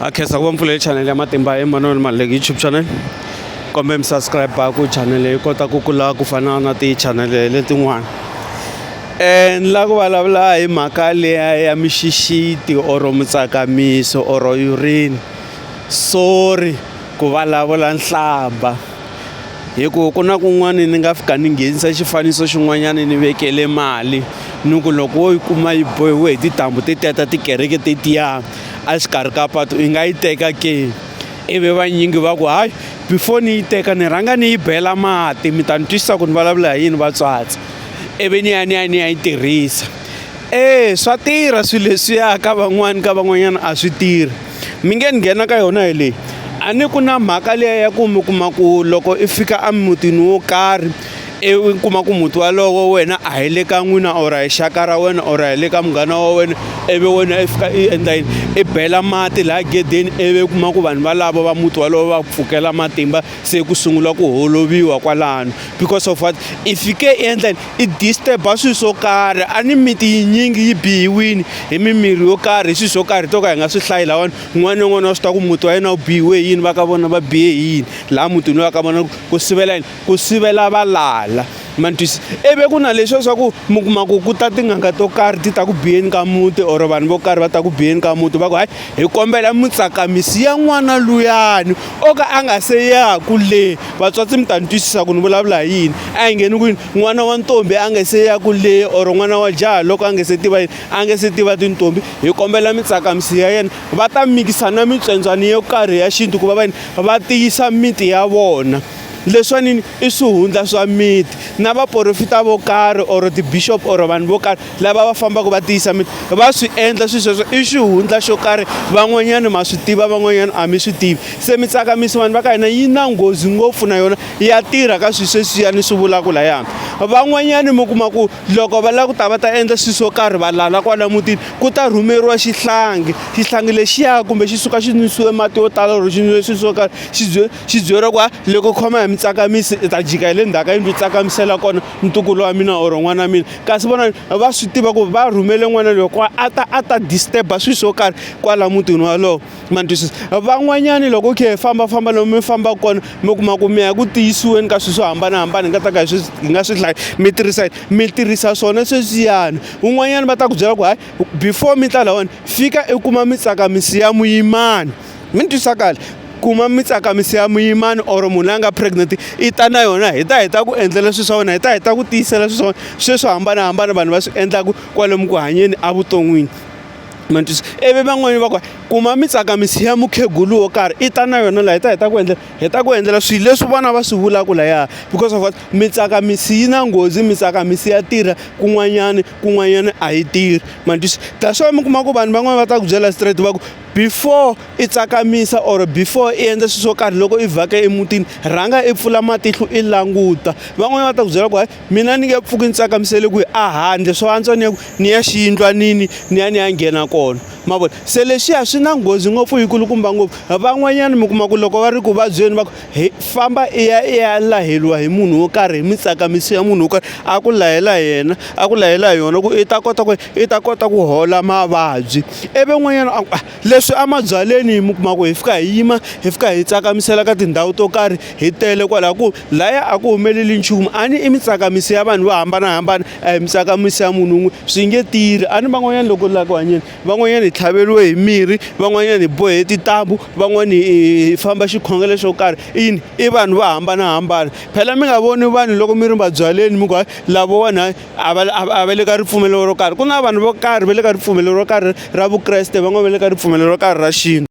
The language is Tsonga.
ha khensa ku va mpfulele chanele ya matimba emmanuel maleki youtube channel kombe mi subscribe ku chanele yi kota ku kula ku fana na tichanele letin'wana um ni lava ku vulavula hi mhaka leya ya mixixiti or mutsakamiso or urine sorry ku vulavula nhlamba hi ku ku na kun'wana ni nga fika ni nghenisa xifaniso xin'wanyana ni vekele mali ni ku loko wo yi kuma yi bohiwe hi tintambhu ti teta tikereke tetiya a xikarhi ka patu i nga yi teka ke ivi vanyingi va ku hayi before ni yi teka ni rhanga ni yi bela mati mi ta ni twisisa ku ni vulavula hi yini vatswatsi ivi ni ya ni ya ni ya yi tirhisa e swa tirha swilo leswiya ka van'wani ka van'wanyana a swi tirhi. mi nge ni nghena ka yona hi leyi a ni ku na mhaka liya ya ku mi kuma ku loko i fika emutini wo karhi i kuma ku muti walowo wena a hi le ka n'wina or hi xaka ra wena or hi le ka munghana wa wena ivi wena i fika i endla yini i bela mati laha gedeni ivi kuma ku vanhu valavo va muti walowo va pfukela matimba se ku sungula ku holoviwa kwalano because of what i fike i endla yini i disturb-a swilo swo karhi a ni miti yinyingi yi bihiwile hi mimirhi yo karhi hi swilo swo karhi to ka hi nga swi hlayi lawani un'wana na un'wana wa swi tiva ku muti wa yena wu bihiwe hi yini va ka vona va bihe hi yini laha mutini loyi va ka vona ku sivela yini ku sivela valala ma ni twisisa ivi ku na leswiya swa ku mi kuma ku ku ta tin'anga to karhi ti ta ku biyeni ka muti or vanhu vo karhi va ta ku biyeni ka muti va ku hayi hi kombela mutsakamisi ya n'wana luyani o ka a nga se yaku le vatswatsi mi ta ni twisisa ku ni vulavula hi yini a hi ngheni kwini n'wana wa ntombi a nga se yaku le or n'wana wa jaha loko a nga se tiva yini a nga se tiva tintombi hi kombela mitsakamisi ya yena va ta mikisa na mitswendzwani yo karhi ya xintu ku va va yini va tiyisa miti ya vona leswanini i swihundla swa miti na vaporofita vo karhi or ti-bishop or vanhu vo karhi lava va fambaka va tiyisa mi va swi endla swilo sweswo i xihundla xo karhi van'wanyana ma swi tiva van'wanyana a mi swi tivi se mi tsakamisa vanhu va ka hina yi na nghozi ngopfu na yona ya tirha ka swilo sweswiya ni swi vulaka layani van'wanyana mi kuma ku loko va lava ku ta va ta endla swilo swo karhi va lala kwala mutini ku ta rhumeriwa xihlangi xihlangi lexiya kumbe xi suka xi nwisiwe mati yo tala or xi nwiwe swilo swo karhi xi xi byeriwa ku ha loko khoma hi mi tsakamisi hi ta jika hi le ndzhaku ka yindlu hi tsakamisela kona ntukulu wa mina or n'wana wa mina kasi vona va swi tiva ku va rhumele n'wana loyi kwa a ta a ta disturb-a swilo swo karhi kwala mutini walowo ma ni twisisa van'wanyani loko u khe hi fambafamba lomu mi fambaka kona mi kuma ku mi ya ku tiyisiweni ka swilo swo hambanahambana hi nga ta ka hi swi hi nga swi hlayi mi tirhisa mi tirhisa swona sweswiyani un'wanyana va ta ku byela ku hayi before mi ta lahawani fika i kuma mi tsaka mi siya muyimana. mi ni twisa kahle kuma mi tsakamisi ya muyimani or munhu la nga pregnant i ta na yona hi ta hi ta ku endlela swilo swa wena hi ta hi ta ku tiyisela swilo swa wena swilo swo hambanahambana vanhu va swi endlaka kwalomu ku hanyeni evuton'wini ma twisisa ivi van'wani va ku kuma mi tsakamisi ya mukhegulu wo karhi i ta na yona laha hi ta hi ta ku endlela hi ta ku endlela swilo leswi vona va swi vulaka lahaya because of what mi tsakamisi yi na nghozi mi tsakamisi ya tirha kun'wanyana kun'wanyana a yi tirhi ma twisisa that's why mi kuma ku vanhu van'wani va ta ku byela straight va ku before i tsakamisa or before i endla swilo swo karhi loko i vhaka emutini rhanga i pfula matihlo i languta van'wanyana va ta ku byela ku hayi mina ni nge pfuki ni tsakamisele ku a handle swo antswa ni ya ku ni ya xiyindlwanini ni ya ni ya nghena kona ma vona se leswiya swi na nghozi ngopfu yi kulukumba ngopfu van'wanyana mi kuma ku loko va ri ku vabyeni va ku hi famba i ya i ya laheliwa hi munhu wo karhi hi mitsakamiso ya munhu wo karhi a ku lahela yena a ku lahela hi yona ku i ta kota ku i ta kota ku hola mavabyi ivi n'wanyana a ku ah, leswi emabyaleni yi mi kuma ku hi fika hi yima hi fika hi tsakamisela ka tindhawu to karhi hi tele kwalaho ku laya a ku humeleli nchumu a ni i mitsakamiso ya vanhu vo hambanahambana a hi mitsakamiso ya munhu un'we swi nge tirhi a ni van'wanyana loko la ku hanyeni van'wanyana hi tlhaveriwe hi mirhi, van'wanyana hi bohe tintambu, van'wana hi famba xikhongelo xo karhi i yini i vanhu vo hambanahambana. Phela mi nga voni vanhu loko mi ri mabyaleni mi ku hayi lavawani a va a va le ka ripfumelo ro karhi ku na vanhu vo karhi va le ka ripfumelo ro karhi ra vukreste van'wana va le ka ripfumelo ro karhi ra xintu.